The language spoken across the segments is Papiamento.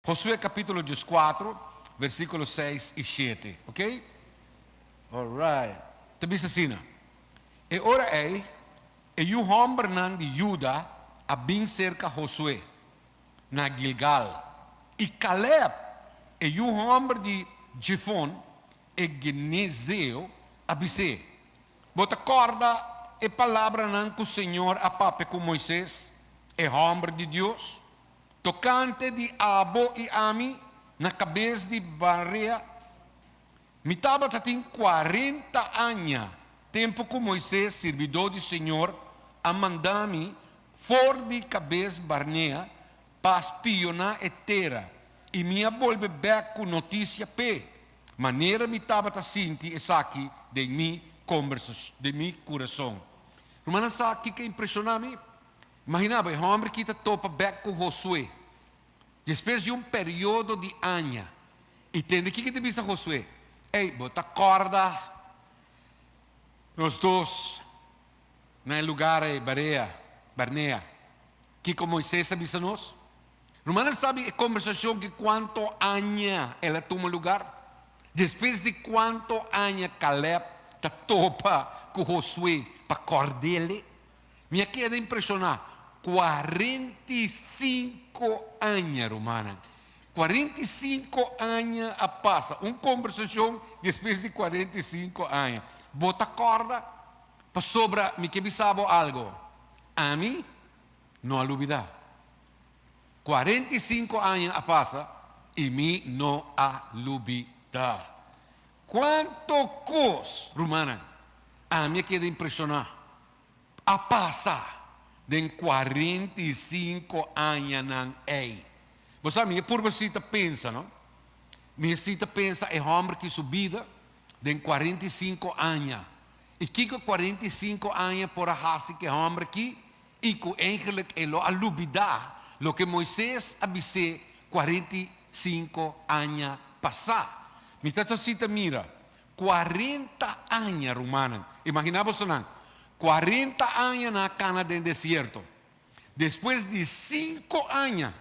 Josué capítulo diescuatro versículo seis i siete, ok. Alright, ta bisa asina, E ora ei, e yu hombernan di Juda a bin cerca Josué na Guilgal, i Caleb, e yu homber di Jefón, e guenezeo, a bis'é, Bo ta corda e palabranan cu Señor a papia cu Moises, e homber di Dios? Tokante di abo i ami, na kabes di Barea, mi tabata tin kuarenta aña, tempu ku Moises, sirbidó di Señor, a manda mi for di Kabes-Barnea pa spioná e tera, i mi a bolbe bèk ku notisia p'e manera mi tabata sinti esaki den mi kurason. Rumannan sa kiko impreshoná mi? Imagina bo, e hòmber ki ta topa bèk ku Hosué despues di un periodo di aña i tende kiko ta bisa Hosué, Ey, bo ta kòrda nos dos na e lugar ei, Barea, Barnea, kiko Moises a bisa nos? Ruman a sabi e kombersashon ki kuantu aña el a tuma lugar? Despues di kuantu aña Kalèb ta topa ku Hosué pa kòrd'e? Mi a keda impresioná, kuarenta i sinku aña, rumannan! Kuarenta i sinku aña a pasa, un kombersashon despues di kuarenta i sinku aña. Bo ta kòrda? Pasobra mi ke bisa bo algu, ami no a lubidá. Kuarenta i sinku aña a pasa i mi no a lubidá. Cuanto cos, rumannan, ami a keda impresioná, a pasa den cuarenta i cinco añanan ei! Bo sa, mi a purba si ta pensa, no? Mi a si ta pensa e hòmber ki su bida den cuarenta i cinco aña. I kiko cuarenta i cinco aña por a hasi ku e hòmber ki? i ku eigenlik e lo a lubidá loke Moises a bis'é kuarenta i sinku aña pasá. Mi ta ta sita mira, kuarenta aña, rumannan! Imaginá boso nan, kuarenta aña nan a kana den desierto. Despues di sinku aña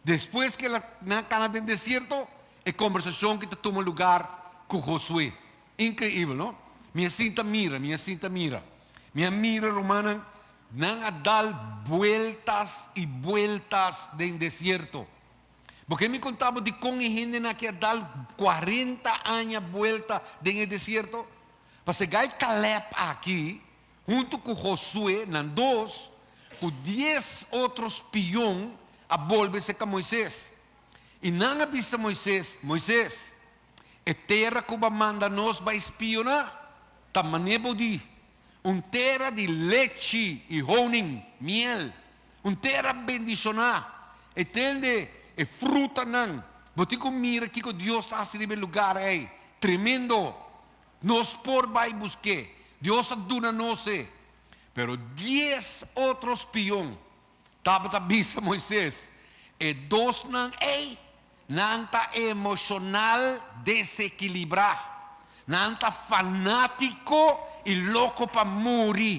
Despues ku nan kana den desierto, e kombersashon ku ta tuma lugar ku Josué. Inkreibel, no? Mi a sinta mira, mi a sinta mira. Mi a mira rumannan, nan a dal bueltas i bueltas den desierto. Bo ke mi konta bo dikon e hendenan aki a dal kuarenta aña buelta den e desierto? Pasegai Caleb aki. Huntu ku Josué, nan dos ku dies otro spion a bolbe serka Moises, i nan a bisa Moises, Moises, e tera ku bo manda nos bai spioná, ta manera bo di, un tera di lechi i honing, miel, un tera bendishoná, e tende e frutanan, bo tin ku mira kiko Dios ta hasi riba e lugar ei, tremendo! Nos por bai busk'é. Dios a duna nos e. Pero dies otro spion tabata bisa Moises, E dosnan ei, nan ta emoshonal desekilibrá. Nan ta fanátiko i loko pa muri.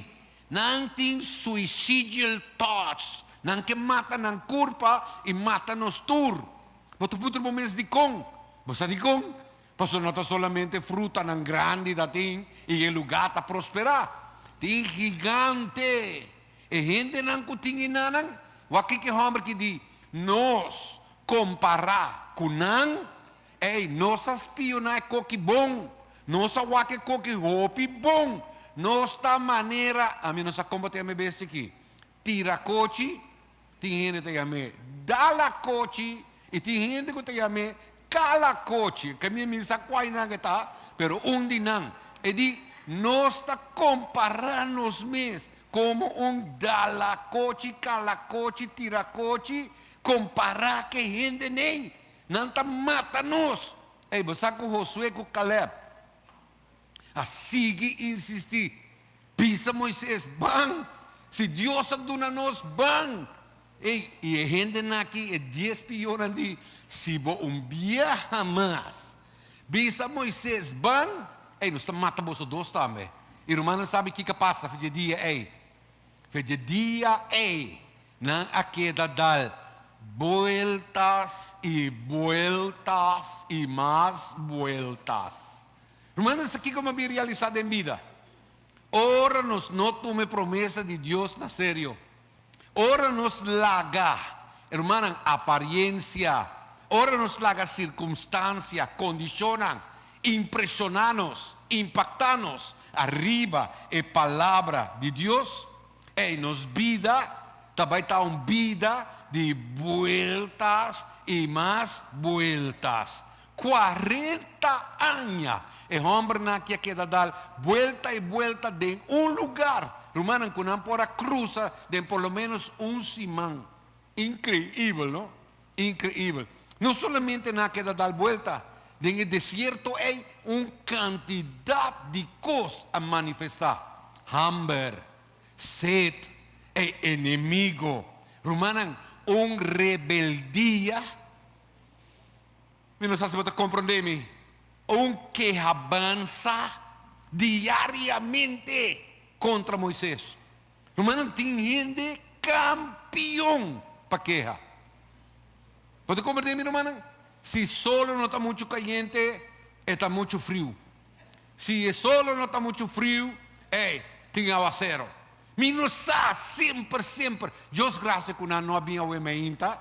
Nan tin suicidial thoughts. Nan ke mata nan kurpa i mata nos tur. Bo ta puntra bo mes dikon? Bo sa dikon? Pasobra no ta solamente frutanan grandi ta tin i e lugá ta prosperá. Tin gigante. E hendenan ku tin enanan, wak ki hòmber ki di nos kompará ku nan. Ei, nos ta spioná e ko ki bon. Nos a wak e ko ki hopi bon. Nos ta manera, ami no sa kombo te mi bes tiki. Tira kochi, tin hende ta yam'e dala kochi i tin hende ku ta yam'e kala kochi. Ke mi mira sa kuai nan e ta, pero un di nan. E di nos ta kompará nos mes komo un dala kochi, kala kochi, tira kochi kompará ke hende n'ei. Nan ta mata nos. Ey, bo sa ku Hosué ku Kalèb A sigui insistí, Bisa Moises, ban! Si Dios a duna nos, ban! Ey, y e hendenan aki, e dies spionnan di, si bo un biaha mas bisa Moises, ban! Ey, nos ta mata boso dos tambe. Y rumannan sabi kica pasa fe dje dia ey? Fe dje dia ey nan a keda dal bueltas y bueltas y mas bueltas. Ruman, esaki kiko mabien realisá den bida? Ora nos no tuma e promesa di Dios na serio. Ora nos laga, hermannan, apariencia. Ora nos laga circunstancia, condicionnan, impresioná nos, impactá nos ariba e Palabra di Dios, ei, nos bida ta bai ta un bida di bueltas i mas bueltas. Cuarenta aña e hombernan aki a keda dal buelta y buelta den un lugar, rumannan cu nan por a cruza den por lo menos un siman. Increibel, no? Increibel. No solamente nan a keda dal buelta, den e desierto ey un cantidad di cos a manifesta, hamber, sed, e enemigo, rumannan, un rebeldia. Mi no sa si bo ta komprondé mi. Un keha bansa diariamente kontra Moises. Rumannan tin hende kampion pa keha. Bo ta komprondé mi rumannan? Si solo no ta muchu kayente, e ta muchu friu. Si e solo no ta muchu friu, ei, tin awasero. Mi no sa semper, semper, Dios grasia ku nan no a bin awe mi ainta.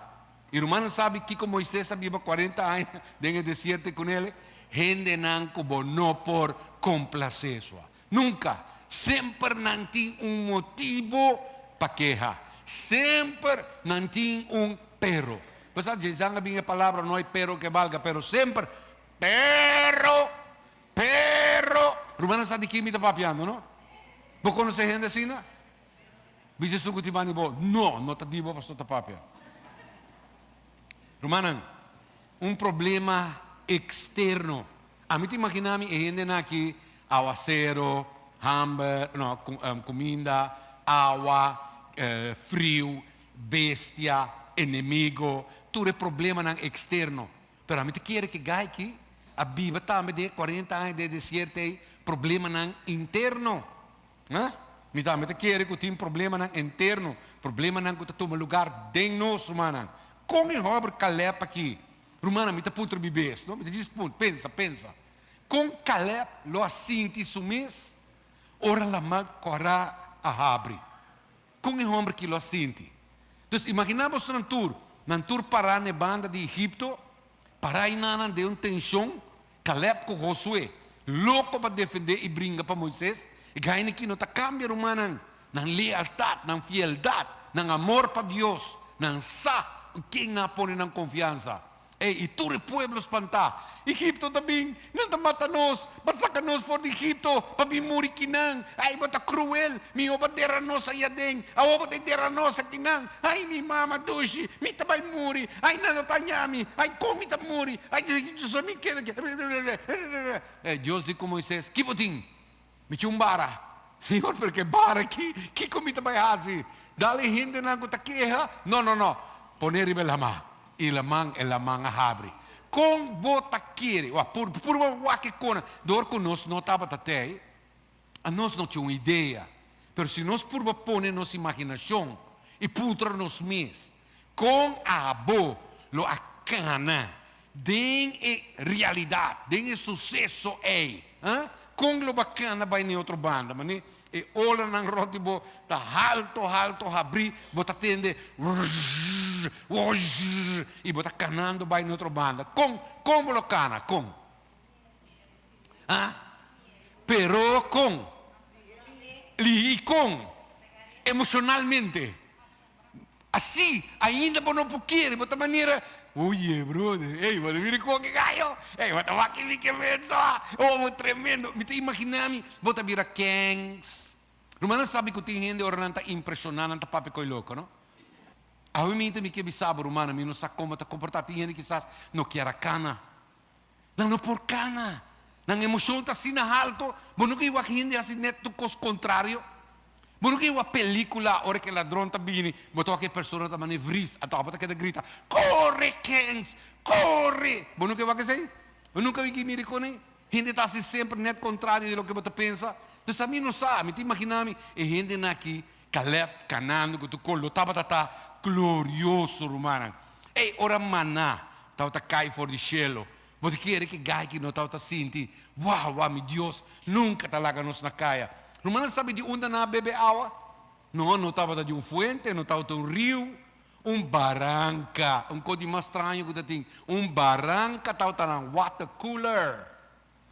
E rumannan sabi kiko Moises a biba cuarenta aña den e desierto cu nel? Hendenan cu bo no por complacé sua. Nunca! Semper nan tin un motibo pa keha. Semper nan tin un pero. Bo sa djizan a bin e palabra no hay pero que valga, pero semper pero, pero. Rumannan sa di kin mi ta papiando no? Bo conoce hende asina? Bichi esun ku tin banda di bo, no, no ta dibo pasobra no ta papia. Rumannan, un problema eksterno. Ami ta imaginá mi e hendenan aki, awasero, hamber, no, kuminda, awa, friu, bestia, enemigo, tur e problemanan eksterno. Pero ami ta kere ku e gaichi a biba tambe den e kuarenta aña den e desierto ei, problemanan interno. Aa? Mi tambe ta kere ku tin problemanan enterno, problemanan ku ta tuma lugar den nos, rumannan. Kon e hòber Kalèb akí, rumannan, mi ta puter mi bes, no, mi ta djis punt, pensa, pensa, kon Kalèb lo a sinti su mes ora laman Kòrá a habri? Kon e hòmber akí lo a sinti? Entonces, imaginá boso nan tur, nan tur pará na e banda di Egipto, pará einan nan den un tenshon. Caleb cu Josué loco pa defende y bringa pa Moises. E gaini ki no ta cambia rumannan. Nan lealtad, nan fieldad, nan amor pa Dios, nan sa cu ken nan a pone nan confiansa. Ey, y tur e pueblo spanta. Egipto ta bin, nan ta mata nos, ba saca nos for di Egipto pa bin muri ki nan. Ey, bo ta cruel, miho bo dera nos ahi aden, awor bo ta dera nos aki nan. Ai mi mama dushi mi ta bai muri ai nan lo ta haña mi ai kon mi ta muri ai so mi keda aki rerererere e Dios di ku Moises ki bo tin mi tin un bara Señor pero ke bara aki kiko mi ta bai hasi dal e hendenan ku ta keha no no no pone riba e laman i laman e laman a habri kon bo ta kere wa puru puru bo wak e konan dor ku nos no tabata te ai Anos no tin un idea, pero si nos purba pone nos imaginacion y puntra nos mes, Con abo lo a cana den e realidad, den e suceso ey? Huh? Con lo bo a cana bay na e otro banda, mane e olanan rond di bo ta halto, halto habri, bo ta tende Wrrrrrr, wrrrrrr, y bo ta canando bay na e otro banda. Con, con bo lo cana? Con? Ha? Pero con? Lihí i con? Emocionalmente. Así, ainda bo no por kere, bo ta manera, Oye, brother, ey, bo ta bira cu aki gallo? Ey, bo ta wak mi ke menso, ha? Oh, bo tremendo. Mi ta imagina mi bo ta bira kèns. Rumannan sabi cu tin hende ora nan ta impresioná, nan ta papia co'e loco, no? Awe mi también ke bisa bo, rumannan, mi no sa con bo ta comportá. Tin hende kisas no kier a cana. Nan no por kana. Nan emocion ta asina halto. Bo no ke wak hende hasi net tur kos contrario? Bo no ke wak pelicula ora ke ladron ta bini, bo ta wak e persona ta mane vries ato bo ta keda grita, Corre Kens! Corre! Bo no ke wak esei? Bo nunca wiki mira e konen? Hende ta hasi semper net contrario di loke bo ta pensa. Entonces ami no sa, ami ta imagina mi e hendenan aki, Caleb, Canaan, cu tu colo tabata ta glorioso, rumannan. Ey, ora maná tabata cay for di cielo, bo ta kere cu e gayki no tabata sinti, Wow, wow, mi Dios nunca ta laga nos na caya! Rumannan sabi di unda nan a bebe awa? No, no tabata di un fuente, no tabata un riu, un baranca. Un cos di mas straño cu ta tin, un baranca tabata nan, water cooler.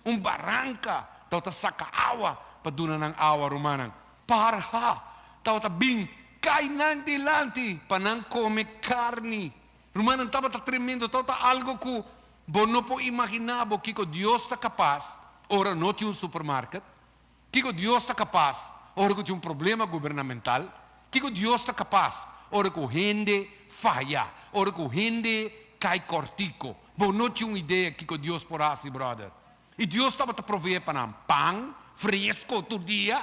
Un baranka tabata saka awa pa duna nan awa, rumannan. Parha tabata bin kai nan dilanti pa nan kome karni. Rumannan, tabata tremendo, tabata algu ku bo no por imaginá bo kiko Dios ta kapas ora no tin un supermarket. Kiko Dios ta kapas ora ku tin un problema gubernamental? Kiko Dios ta kapas ora ku hende faya, ora ku hende kai kòrtiku? Bo no tin un idea kiko Dios por hasi, bròder. I Dios tabata proveé pa nan pan fresko tur dia,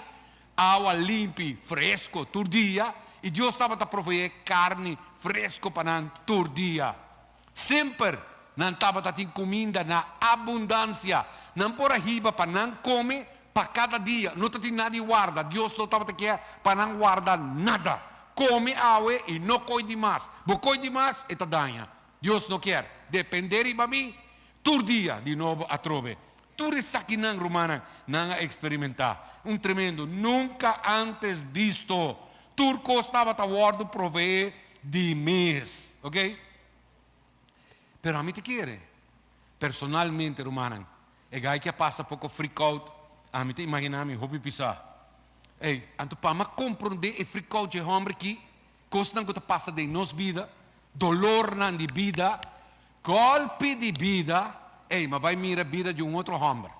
awa limpi fresko tur dia, i Dios tabata proveé karni fresko pa nan tur dia. Semper nan tabata tin kuminda na abundansia. Nan por a hiba pa nan kome pa kada dia. No ta tin nada di warda. Dios no tabata kia pa nan warda nada. Kome awe i no koi di mas. Bo koi di mas, e ta daña. Dios no kier. Depende riba mi. Tur dia, di nobo atrobe. Tur esakinan, rumannan, nan a eksperimentá un tremendo, nunka ántes bisto. Tur kos tabata wòrdu proveé di mes. Oké. Pero ami ta kere, personalmente, rumannan, e gai ke a pasa poko frikout, ami ta imaginá mi hopi pisá. Ey, anto pa ama komprondé e frikout dje hòmber ki, kosnan ku ta pasa den nos bida, dolornan di bida, Golpi di bida, ey, m'a bai mira bida di un otro homber.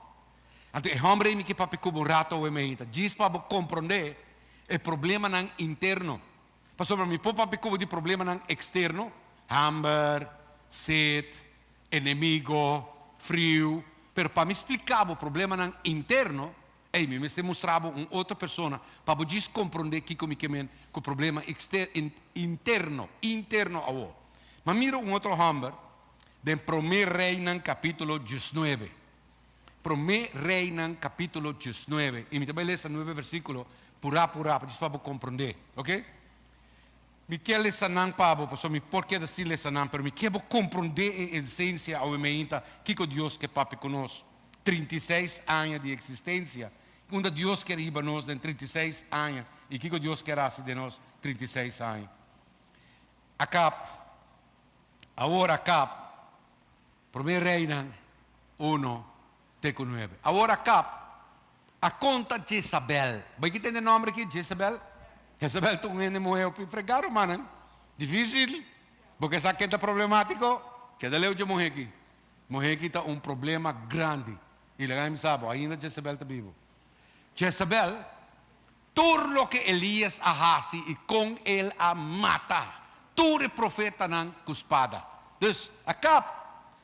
Anto e homber ey mi ke papia cubo un rato awe mehita, djis pa bo comprende e problemanan interno. Pasobra mi por papia cubo di problemanan externo, hamber, set, enemigo, friu, pero pa mi splica bo problemanan interno, Ey, mi mester mustra bo un otro persona pa bo djis comprende kico mi ke men cu problema interno, interno awor. M'a mira un otro homber den Prome Reinan capitulo diesnuebe. Prome Reinan capitulo diesnuebe. Y mi ta bay lesa nuebe versiculo pura, pura, djis pa bo comprende. Oke? Mi ke lesa nan pa bo, pasobra mi por keda sin lesa nan, pero mi ke bo komprondé e esensia awe meinta kiko Dios ke papia ku nos trinta i seis aña di eksistensia, unda Dios ke riba nos den trinta i seis aña i kiko Dios ke hasi den nos trinta i seis aña. Akap, awor akap. Promé Reinan uno te ku nuebe. Awor Akab a konta Jezabèl. Bai ki tende nòmber aki? Jezabèl. Jezabèl ta un hende muhé hopi fregá, rumannan. Difísil. Bo ke sa ke ta problemátiko? Keda leu dje muhé aki. Muhé aki ta un problema grandi. I laga mi sa bo, ainda Jezabèl ta bibu. Jezabèl. Tur loke Elias a hasi i kon el a mata tur e profetanan ku spada. Dus, Akab,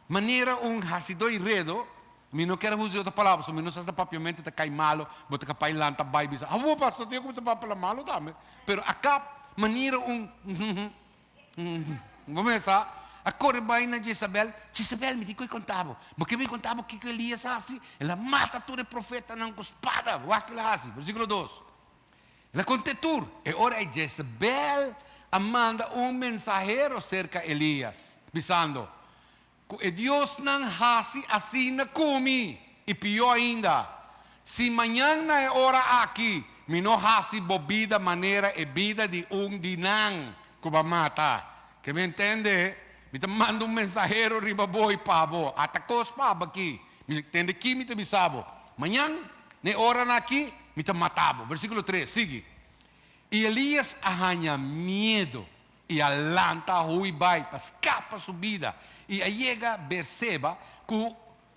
manera un hasidó i redo, mi no kier a usa e otro palabra, so mi no sa si ta papiamente ta kai malu, bo ta kapá e lanta bai bisa, Awoo, pastor, tin e kuminsá papia la malu tambe. Pero Akab, manera un, Bo mesa a kore bai na Jezabel, Jezabel, mi tin ku e konta bo. Bo ke mi konta bo kiko Elias a hasi? El a mata tur e profetanan ku spada. Wak ku el a hasi, versíkulo dos. El a kont'é tur. E ora ei Jezabel a manda un mensahero serka Elias, bisando, Cu e diosnan haci asina cu mi, y pió ainda, si mañan na e ora aki mi no haci bo bida manera e bida di un di nan cu bo a mata, ke mi a entende, mi ta manda un mensahero riba bo y pa bo, ata cos pa aba aki, mi lo tende aki, mi ta bisa bo, mañan na e ora aki mi ta mata bo. Versiculo tres, sigui. Y Elias a haña miedo. I a lanta ho'i bai pa skapa su bida, i a yega Beer-Seba, ku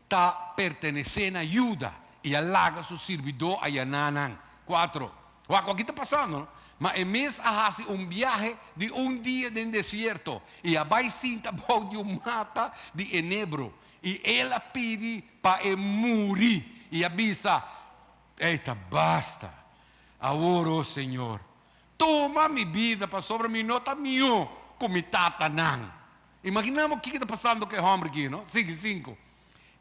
ta pertenesé na Juda, i a laga su sirbidó a yaná nan. Kuatro. Wak wak ki ta pasando, no? Ma e mes a hasi un biahe di un dia den desierto, i a bai sinta bou di un mata di enebro, i el a pidi pa e muri, i a bisa, Ei ta basta! Awor, O señor, Tuma mi bida, pasobra mi no ta mió ku mi tatanan. Imaginá bo kiko ta pasando ku e hòmber ki, no? Sigui sinku.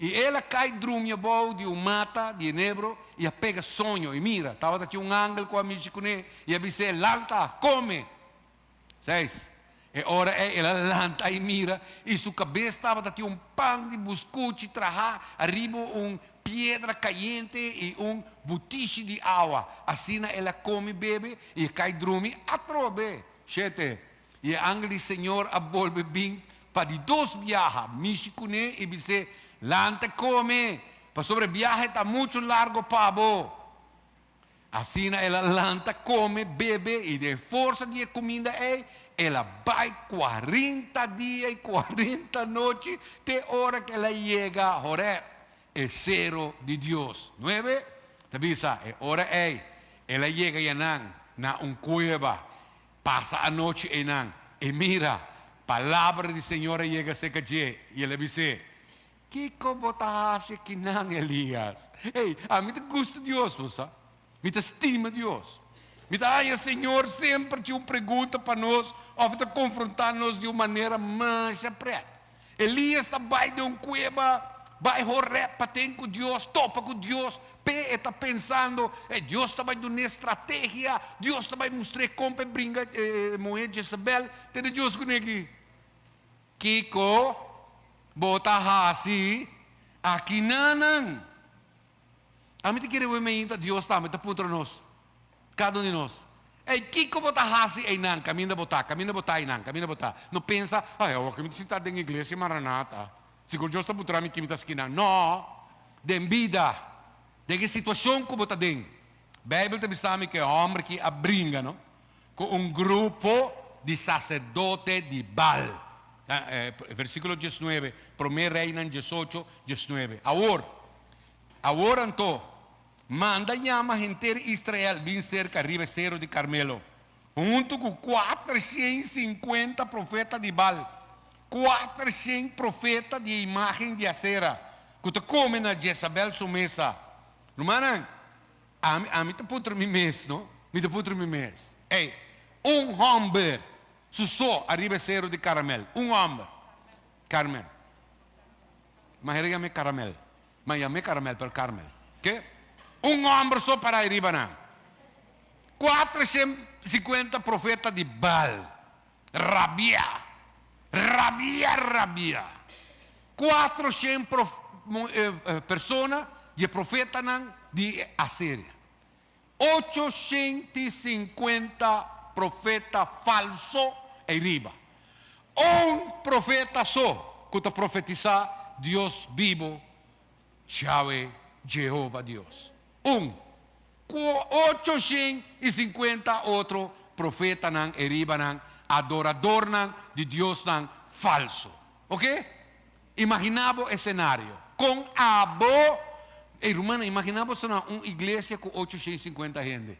I el a kai drumi abou di un mata di enebro i a pega soño. I mira, tabata tin un angel ku a mishi kuné i a bis'é, Lanta, kome! Seis. E ora ei el a lanta i mira, i su kabes tabata tin un pan di buskuchi trahá ariba un piedra kayente i un butishi di awa. Asina el a kome bebe i a kai drumi atrobe. Shete, i e angel di Señor a bolbe bin pa di dos biaha mishi kuné i bis'é, Lanta kome, pasobra e biaha ei ta muchu largu pa bo. Asina el a lanta kome, bebe i den e forsa di e kuminda ei el a bai kuarinta dia i kuarinta nochi te ora ku el a yega Horeb, e sero di Dios. Nuebe ta bisa, E ora ei el a yega ya nan na un kueba, pasa anochi einan i mira, palabra di Señor a yega aserka dje i el a bis'é, Kiko bo ta hasi ki nan, Elias? Ey, ami ta gusta Dios, bo sa. Mi ta stima Dios. Mi ta haña Señor semper tin un pregunta pa nos of e ta confronta nos di un manera masha pret. Elias ta bay den un cueba, bay Horeb paten cu Dios, topa cu Dios, pe e ta pensando, ey, Dios ta bay dun'e estrategia, Dios ta bay mustr'e compa e bringa e muher Jezebel, te na Dios cu ne'e aki. Kiko bo ta hasi aki nanan? A mi ta kere wei meinta Dios tambe ta puntra nos, kada un di nos, Ei, kiko bo ta hasi einan kaminda bo ta, kaminda bo ta einan, kaminda bo ta? No pensa, Ai, awoka mi ta sintá den iglesia Maranata, sigur Dios ta puntra mi ki mi ta haskí nan. No! Den bida, den e situashon ku bo ta den. Beibel ta bisa mi ku e hòmber ki a bringa, no? cu un grupo di sacerdote di Baal. Versiculo diesnuebe, Prome Reinan diesocho, diesnuebe. Awor, awor anto, manda yama henter Israel bin cerca riba e cero di Carmelo, hunto cu cuatershent i cincuenta profeta di Baal, cuatershent profeta di e imagen di Asera, cu ta come na Jezabel su mesa. Rumannan, Ami, ami ta putru mi mes, no? Mi ta putru mi mes, ey, un homber su so ariba e seru di Caramel, un homber, Carmel, mas e rigam'e Caramel, mas yam'e Caramel pero Carmel, ke? Un homber so para ariba nan, cuatrocientocincuenta profeta di Baal. Rabiá, rabiá, rabiá. Kuatro shen persona di e profetanan di Asiria. Ocho shent i sinkuenta profeta falso ei riba. Un profeta so ku ta profetisá Dios bibu. Yawe Jehova Dios, un ku ocho shen i sinkuenta otro profetanan e riba nan, adoradornan di diosnan falsu. Oke? Imaginá bo e senario. Kon abo, ey rumannan, imaginá bo asina un iglesia ku ocho shen i sinkuenta hende.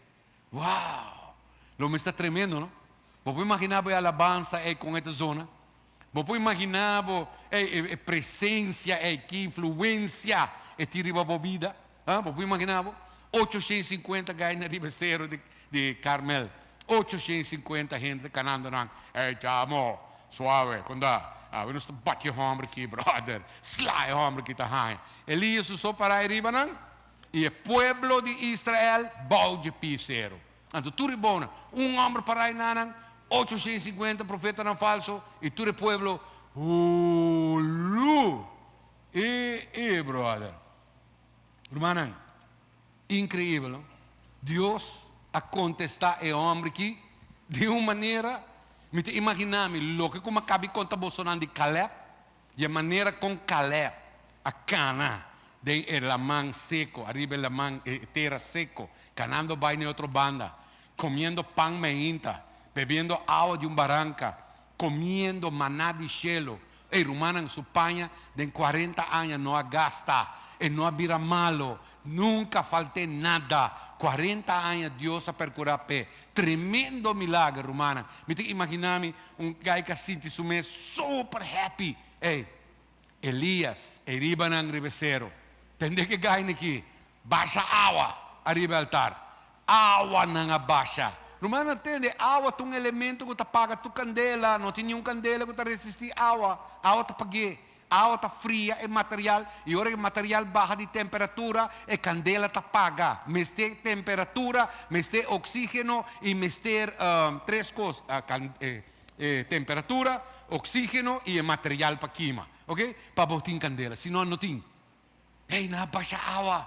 Wow! Lo mester tremendo, no? Bo por imaginá bo e alabansa ey kon e ta zona? Bo por imaginá bo e presensia, e ki influensia e tin riba bo bida? Ha? Bo por imaginá bo? Ocho shen sinkuenta gaina riba e sero di Karmel. Ocho shen sinkuenta hende ta kanando nan, Ey chamo, suave, konda? Awe nos ta bati e hòmber ki, bròder. Sla e hòmber ki ta haña. Elias usó pará e riba nan, i e pueblo di Israel bou dje pie sero. Anto tur e bona, un omber para e nanan, ocho shen cincuenta profetanan falso, i tur e pueblo hulu! E e brother! Rumannan, increibel no? Dios a contesta e omber ki di un manera, mi ta imagina mi loke cu mi a caba di conta bosonan di Caleb, Di e manera kon Caleb a kana den e laman seko, ariba e laman, e tera seko, kanando bai na e otro banda, komiendo pan mainta, bebiendo awa di un baranka, komiendo maná di shelu, e rumannan su paña den kuarenta aña no a gasta, e no a bira malo, Nunka falt'é nada. Cuarenta aña Dios a percurá p'e tremendo milager, rumannan. Mi ta imaginá mi un guy k'a sinti su mes super happy. Ey, Elias, e ribanan riba e sero, tende k'e guynan akí basha awa ariba e altar. Awanan a basha. Rumannan, tende, awa ta un elemento ku ta paga tur kandela. No tin niun kandela ku ta resistí awa. Awa ta pag'é. Awa ta fria e material i ora e material baha di temperatura e kandela ta paga. Mester temperatura, mester oksígeno i mester tres kos, e temperatura, oksígeno i e material pa kima, oke, pa bo tin kandela. Si no, no tin. Ey, nan a basha awa.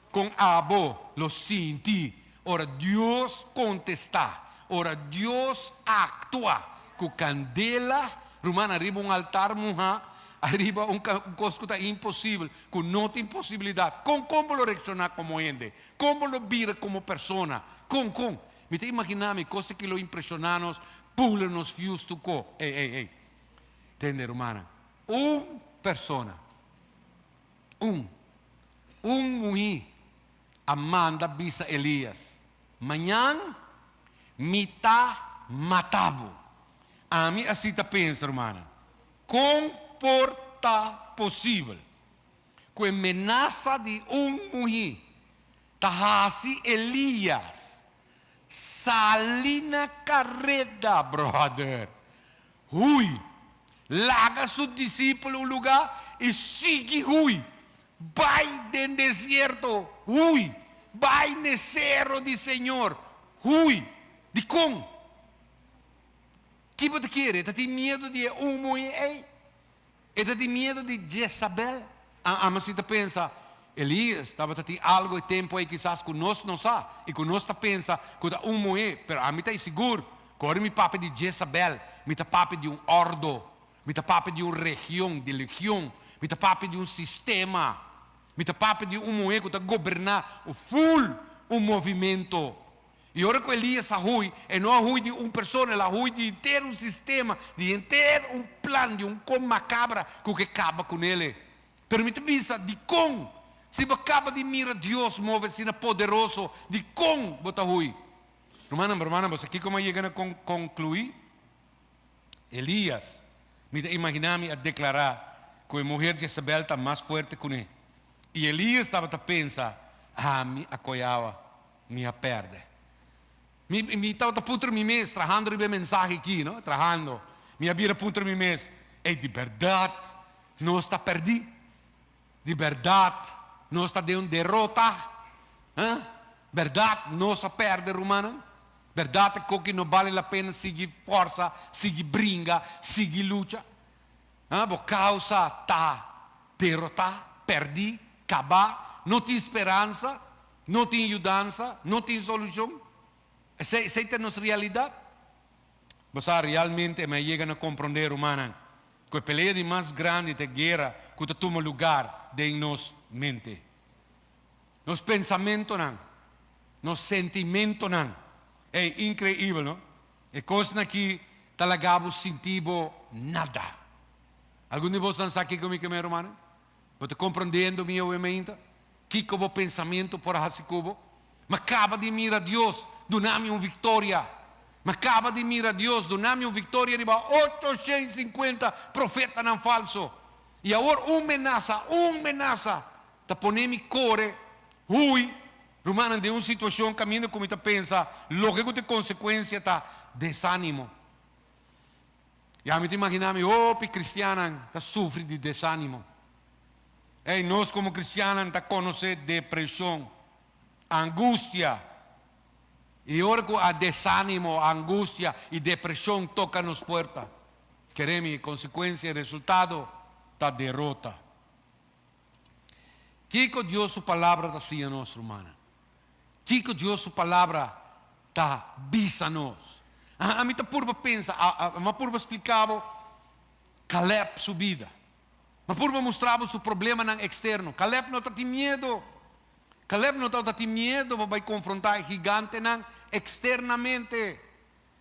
Kon abo lo sinti ora Dios kontestá, ora Dios aktua ku kandela rumannan riba un altar muhá, ariba un kos ku ta imposibel, ku no tin posibilidat? Kon kon bo lo reakshoná komo hende? Kon bo lo bira komo persona? Kon kon? Mi ta imaginá mi kos aki lo impreshoná nos, pula nos fius tu ko. Ey ey ey! Tende rumannan, un persona. Un. Un muhí a manda bisa Elias, Mañan mi ta mata bo. Ami a si ta pensa, rumannan, Kon por ta posibel ku e menasa di un muhí ta hasi Elias sali na kareda, bròder? Hui. Laga su disipel un lugá i sigui Hui. Bai den desierto. Hui. Bai n'e sero di Señor. Hui. Dikon? Ki bo ta kere? E ta tin miedu di e humo ei. E ta tin miedu di Jezabel? A Ama si ta pensa, Elias tabata tin algu e tempu ei kisas ku nos no sa i ku nos ta pensa ku ta un muhé, pero ami ta sigur ku ora mi papia di Jezabel, mi ta papia di un ordo, mi ta papia di un region, di legion, mi ta papia di un sistema, mi ta papia di un muhé ku ta goberná un ful un movimentu. I ora ku e lies a hui, e no a hui di un persona, el a hui di henter un sistema, di henter un plan, di un kon makabra ku ke kaba ku nele. Pero mi ta bisa, dikon? Si bo kaba di mira Dios move asina poderoso, dikon bo ta hui? Rumannan, hermanan, bo sa kiko mi a yega na konkluí? Elias, mi ta imaginá mi, a deklará ku e muher Jezebel ta mas fuerte kuné. I Elias tabata pensa, Ami a koyá awa. Mi a perde. Mi, mi tabata puntra mi mes, trahando riba e mensahe aki, no, trahando, mi a bira puntra mi mes, Ey, di berdad nos ta perdí? Di berdad nos ta den un derota? Hã? Berdad nos a perde, rumannan? Berdad ta koki no bale la pena sigui forsa, sigui bringa, sigui lucha? Hã? Bo causa ta derotá, perdí, cabá, no tin speransa? No tin yudansa, no tin solucion. Esei, esei ta nos realidad. Bo sa, realmente mi a yega na comprende, rumannan, cu e pelea di mas grandi ta e guera cu ta tuma lugar den nos mente. Nos pensamentonan, nos sentimentonan. Ey, increibel, no? E cosnan aki ta laga bo sinti bo nada. Algun di bosnan sa kico mi ke me, rumannan? Bo ta comprendiendo mi awe mainta? Kico bo pensamiento por a haci cu bo? Mi caba di mira Dios duna mi un victoria. Mi caba di mira Dios duna mi un victoria riba ocho shen cincuenta profetanan falso. Y awor un menaza, un menaza ta pone mi core hui, rumannan, den un situacion caminda cu mi ta pensa loke cu ta e consecuencia ta desanimo. Ya mi ta imaginá mi hopi kristiannan ta sufri di desánimo. Ei, nos komo kristiannan ta konosé depreshon, angustia. I ora ku a desánimo, angustia i depreshon toka nos puerta, kere mi, e konsekuensia, e resultado ta derota. Kiko Dios su Palabra ta siña nos, rumannan? Kiko Dios su Palabra ta bisa nos? A ami ta purba pensa, mi a purba splika bo Caleb su bida, mi a purba mustra bo su problemanan eksterno. Caleb no ta tin miedu, Caleb no tabata tin miedu pa bai konfrontá e higantenan eksternamente.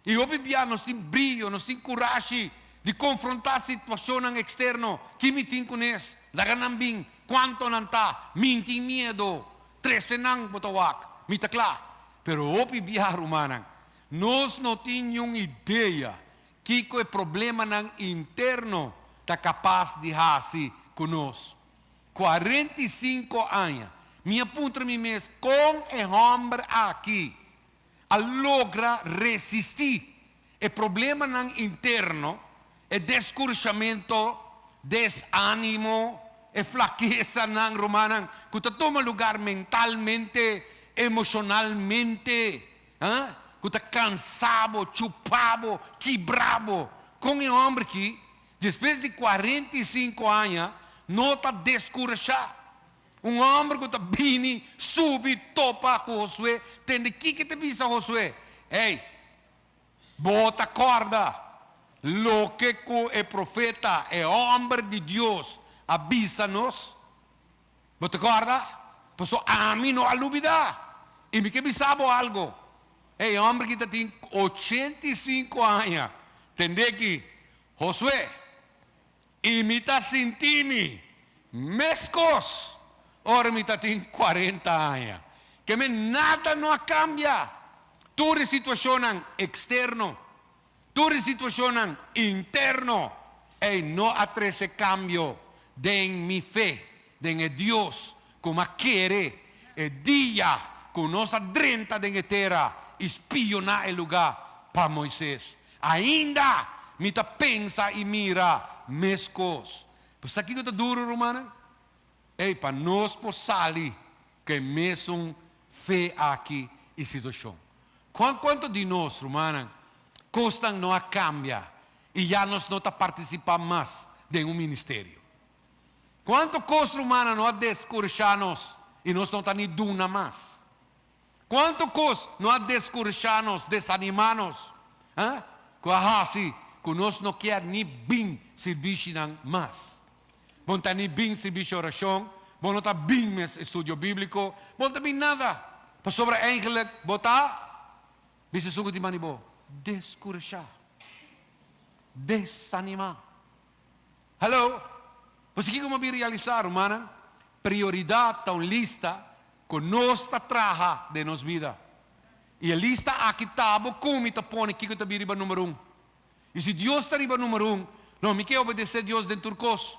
E hopi bia nos tin brio, nos tin kurashi di konfrontá situashonnan eksterno. Ki mi tin ku nes? Laga nan bin. Kuanto nan ta? Min tin miedo. Trese nan, bo ta wak. Mi ta kla. Pero hopi bia, rumannan, nos no tin niun idea kiko e problemanan interno ta kapas di hasi ku nos. Kuarenta i sinku aña mi a puntra mi mes, Kon e hòmber aki? a logra resisti e problemanan interno, e descurshamentu, desanimo, e flakesanan, rumannan, cu ta tuma lugar mentalmente, emocionalmente, ha, cu ta cansa bo, chupa bo, kibra bo. Con e homber ki, despues di cuarenta y cinco aña, no ta descurshá. Un homber cu ta bini, subi, topa cu Josué, tende kico ta bisa Josué, Ey, bo ta corda loke cu e profeta, e homber di Dios a bisa nos? Bo ta corda? Pasobra ami no a lubida. Y mi ke bisa bo algo, e homber aki ta tin ochenta y cinco aña, tende aki, Josué. I mi ta sinti mi meskos ora mi ta tin cuarenta aña. Keme nada no a cambia. Tur e situacionnan externo, tur e situacionnan interno, ey no a trece cambio den mi fe Den e Dios ku a kere e dia ku nos a drenta den e tera i spioná e lugá pa Moises. Ainda mi ta pensa i mira meskos. Pues sa kiko ta duru, rumannan? Ey, pa nos por sali ku e mesun fe aki i situashon. Kuan kuantu di nos, rumannan, kosnan no a kambia i ya nos no ta partisipá mas den un ministerio? Cuanto cos rumannan no a descurashá nos y nos no ta ni duna mas? Cuanto cos no a descurashá nos, desanimá nos, ah, cu a haci cu nos no kier ni bin sirbishi-nan mas? Bo no ta ni bin sirbishi oracion, bo no ta bin mes estudio bíblico, bo no ta bin nada, pasobra eigenlijk bo ta, bisa esun cu tin bani bo, descurashá, desanimá. Halo! Pasobra kiko bo bin realisá, rumannan? Prioridat ta un lista ku nos ta traha den nos bida. I e lista akí ta bo kon mi ta pone kiko ta bin riba número un. I si Dios ta riba número un, lo mi ke obedesé Dios den tur kos.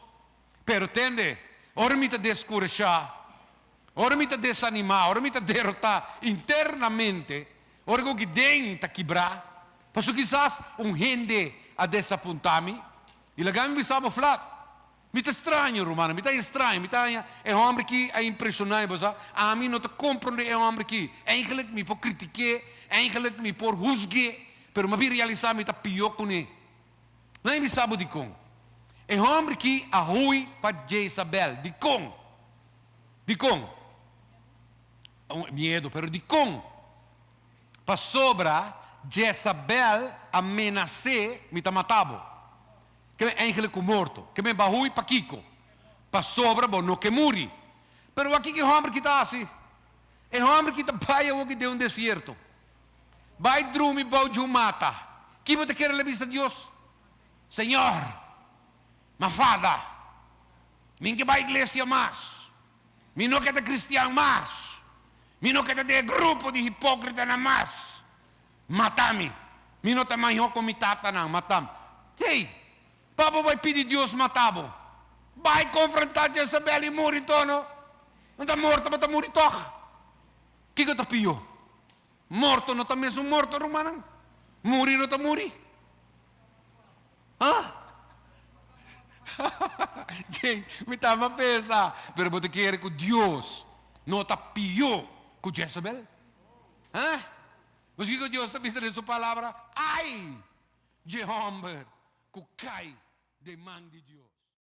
Pero tende, ora mi ta deskurashá, ora mi ta desanimá, ora mi ta derotá internamente, Ora ku Gidén ta kibrá, Paso kisas un hende a desapuntá mi i laga mi bisa bo flak. Mi ta straño, rumannan, mi ta haña straño. Mi ta haña e hòmber ki a impreshoná mi. Pasá ami no ta komprondé e hòmber ki. Eingelik mi por kritik'é, eingelik mi por husg'é, pero mi a bin realisá mi ta pió kuné. Laga mi bisa bo dikon. E hòmber ki a hui pa Jezabèl. Dikon? Dikon? Miedu, pero dikon? Pasobra Jezabel a menas'é, mi ta mata bo. Keme engelnan ku morto. Keme bahui pakiko? Pasobra bo no ke muri. Pero wak kiko e hòmber ki ta hasi? E hòmber ki ta bai awoki den un desierto, bai drumi bou dje un mata, ki bo ta kere la bista Dios? Señor, mafada! Mi no ke bai iglesia mas. Mi no ke ta kristian mas. Mi no ke ta den e grupo di hipókritanan mas. Mata mi. Mi no ta maihó ku mi tatanan. Matam. Hey! Pa bo bai pidi Dios mata bo? Bai konfrontá Jezabel i muri ntó no. Bo ta morto, bo ta muri tòg. Kiko ta pió? Morto no ta mesun morto rumannan. Muri no ta muri. Ah? Jane, mi ta ama pensa. Pero bo ta kere ku Dios no ta pió ku Jezebel? Ah? Pues kiko Dios ta bisa den su palabra? Ai dje hòmber ku kai den man di Dios.